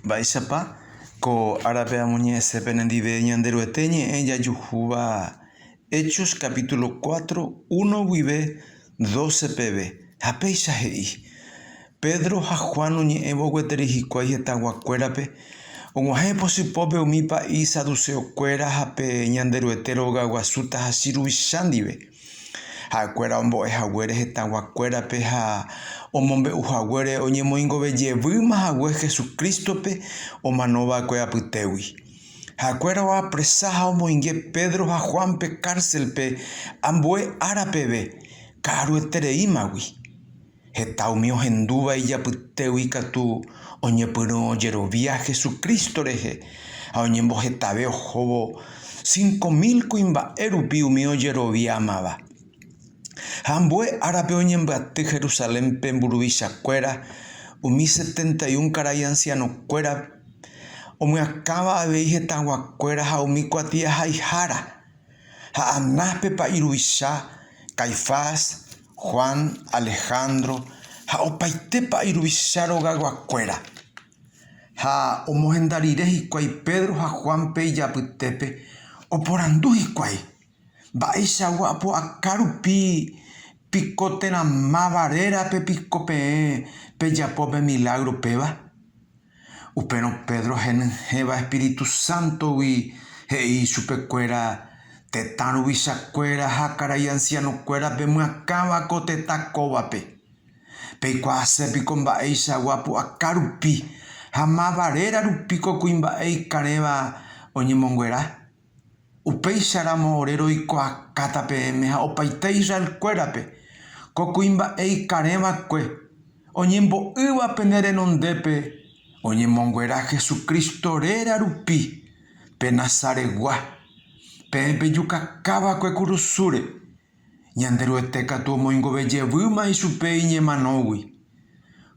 Mba'éichapa ko árape amoñe'ẽse penendive Ñanderuete ñe'ẽ jajuhúva Hechos capítulo cuatro uno guive doce peve, ha péicha he'i, Pedro ha Juan oñe'ẽvo gueteri hikuái hetaguakuérape, og̃uahẽ pytypópe umi pa'i saduceokuéra ha pe Ñanderuete rogaguasu tahachi ruvicha ndive. Ha'ekuéra ombo'e haguére hetãguakuérape ha omombe'u haguére oñemoingove jevýma hague Jesucrístope omano va'ekue apytégui. Ha'ekuéra oapresa ha omoinge Pedro ha Juánpe kárselpe ambue ára peve, ka'aruetereímagui. Heta umi ohendúva ijapytégui ikatu oñepyrũ ojerovia Hesu Crísto rehe ha oñembohetave ohóvo cinco mil kuimba'e rupi umi ojeroviámava. Ha ambue árape oñembyaty Jerusalénpe mburuvichakuéra umi setenta y un karai ancianokuéra omyakãva avei hetaguakuéra ha umi kuatiahaihára. Ha Anáspepa iruvicha, Caifás, Juan, Alejandro ha opaitépa iruvicha rogayguakuéra. Ha omohenda rire hikuái Pedro ha Juánpe ijapytépe, oporandu hikuái, Mba'eichagua apu'aka rupi piko térã máva rérape piko peẽ pejapo pe milágro péva? Upérõ Pedro henyhẽva espíritu sántogui he'i ichupekuéra, Tetã ruvichakuéra ha karai ansianokuéra pemyakãva ko tetã kóvape. Peikuaase piko mba'eichagua pu'aka rupi ha mávare rarupíko kuimba'e ikarẽva oñemonguera? Upéicharamo ore roikuaakáta peẽme ha opaite Israelkuérape, ko kuimba'e ikarẽva'ekue, oñembo'ýva pene renondépe oñemonguera Jesucristo réra rupi, pe Nazaregua, peẽ pejukakáva'ekue kurusúre. Ñanderuete katu omoingove jevýma ichupe iñemanógui.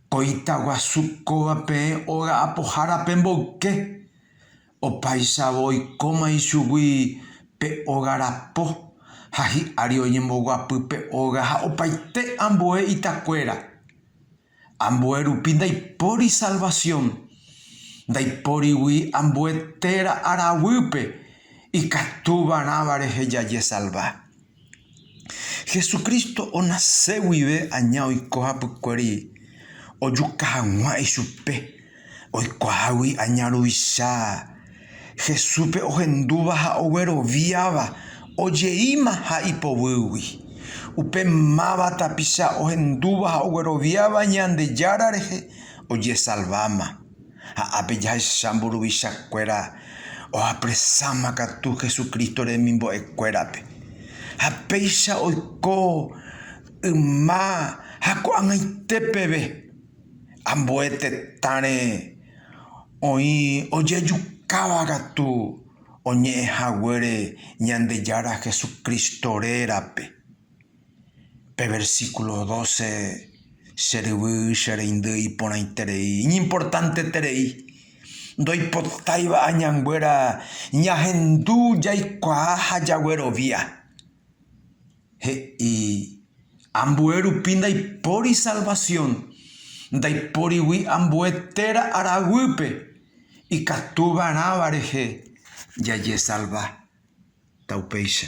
Ko itaguasu kóva peẽ óga apohára pemboyke. Opaichavo oikóma ichugui pe óga rapo, ha hi'ári oñemboguapy pe óga ha opaite ambue itakuéra. Ambue rupi ndaipóri salvasión, ndaipórigui ambue téra araguýpe ikatu varãva rehe jajesalva. Jesucristo onase guive aña oiko hapykuéri ojuka hag̃ua ichupe, oikuaágui aña ruvicha. Jesúspe ohendúva ha ogueroviáva ojeíma ha ipovýgui. Upe máva tapicha ohendúva ha ogueroviáva Ñandejára rehe ojesalváma. Ha ápe jahecha mburuvicha kuéra oapresáma katu Jesucristo remimbo'e kuérape. Ha péicha oiko yma ha ko'ag̃aite peve, ambue tetãre oĩ ojejukáva katu oñe'ẽ haguére Ñandejára Jesucristo rérape. Pe versículo doce che ryvy che reindy iporãiterei, iñimportanteterei. Ndoipotáiva añanguéra ñahendu jaikuaa ha jaguerovia. He'i, Ambue rupi ndaipóri salvación, ndaiporigui ambue téra ára guýpe, ikatu va'erãva rehe jajesalva. Ta upéicha.